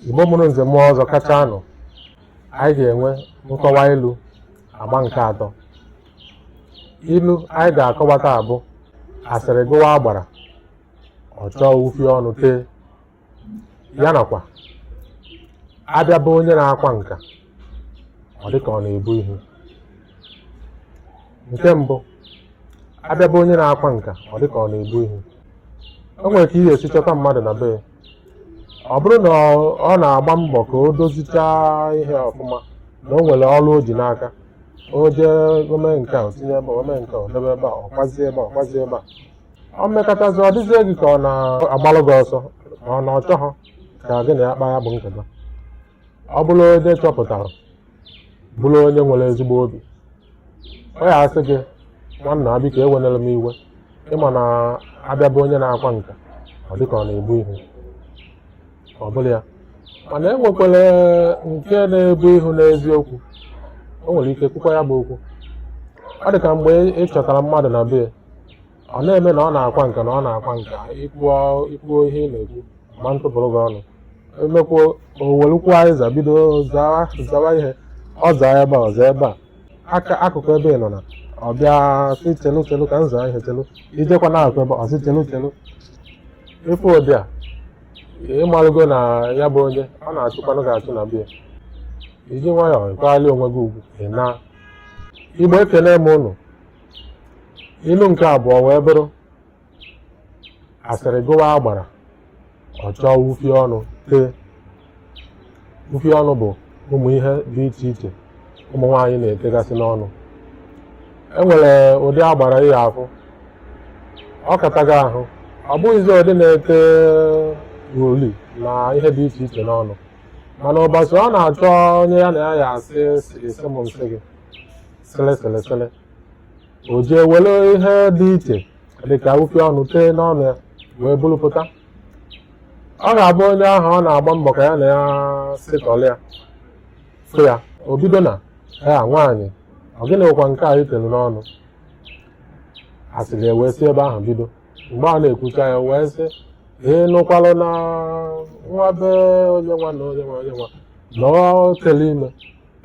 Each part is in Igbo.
Igbo mụrụ nze mụọ ọzọ kachaanụ anyị ga-enwe nkọwa ilu agba nke atọ ilu anyị ga-akọwa taa bụ asịrị gụwa agbara ọ chọọ ufie ọnụ tee ya nakwa a bịa be onye na-akwa nka ọ dị ka ọ na-ebu ihu nke mbụ a bịa be onye na-akwa nka ọ dị ka ọ na-ebu ihu o nwere ka ị ya-esi chọta mmadụ na be ya ọ bụrụ na ọ- ọ na-agba mbọ ka o dozichaa ihe ọfụma na o nwere ọrụ o ji n'aka o jee o mee nke a o tinye ebe a, o mee nke a o debe ebe a ọ kwazie ebe a ọ kwazie ebe a o mekatazie ọ dịzie gị ka ọ na-agbalụ gị ọsọ ma ọ na ọ chọghọ ka gị na ya kpaa ya bụ nkata ọ bụrụ onye chọpụtara bụrụ onye nwere ezigbo obi ọ ya asị gị nwanna a biko ewenere m iwe ị ma na a bịa be onye na-akwa nka ọ dịka ọ na-ebu ihu ọ bụrụ ya mana e nwekwara nke na-ebu ihu n'eziokwu o nwere ike kwukwa ya bụ okwu ọ dị ka mgbe ị chọtara mmadụ na be ya ọ na-eme na ọ na-akwa nka na ọ na-akwa nka i kwuo i kwuo ihe ị na-ekwu ma ntụpụrụ gị ọnụ e mekwuo o welụkwuo azịza bido zawa zawa ihe ọ zaa ebe a ọ zaa ebe a aka akụkụ ebe ị nọ na ọ bịa sị chelu chelu ka m zaa ihe chelu i jekwa na-akụ ebe ọ sị chelu chelu ị fụ ụdị a ị malụgo na ya bụ onye ọ na-achụkwanụ gị achụ na be ya i ji nwayọọ ị kwali onwe gị ugwu ị naa Igbo ekene m ụnụ ilu nke abụọ wee bụrụ asịrị gụwa agbara ọ chọọ ufie ọnụ tee ufie ọnụ bụ ụmụ ihe dị iche iche ụmụ nwaanyị na-etegasị n'ọnụ e nwere ụdị agbara ị ya-afụ ọ kataghị ahụ ọ bụghịzi ụdị na-ete uli na ihe dị iche iche n'ọnụ mana ụbọchị ọ na-achọ onye ya na ya ya-asị sị m m sị gị sịlị sịlị sịlị o jee were ihe dị iche dị ka ufie ọnụ tee n'ọnụ ya wee buru pụta ọ ga-abụ onye ahụ ọ na-agba mbọ ka ya na ya sịtọlụ ya fụ ya o bido na ya nwaanyị ọ gịnịkwa nke a i telu n'ọnụ asịrị wee si ebe ahụ bido mgbe a na-ekwucha ya wee sị ị nụkwalụ na nwa be onye nwa na onye nwa onye nwa na ọ tụlụ ime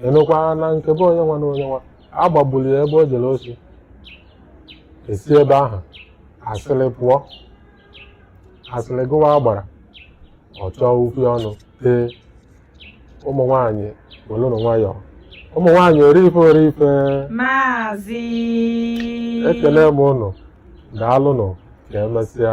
ị nụkwa na nke be onye nwa na onye nwa a gbagburu ya ebe o jere osi e si ebe ahụ asịrị pụọ asịrị gụwa agbara ọ chọọ ufie ọnụ tee ụmụ nwaanyị welụnụ nwayọọ ụmụ nwaanyị ori ife ori ife maazị ekene m ụnụ daalụnụ ka emesịa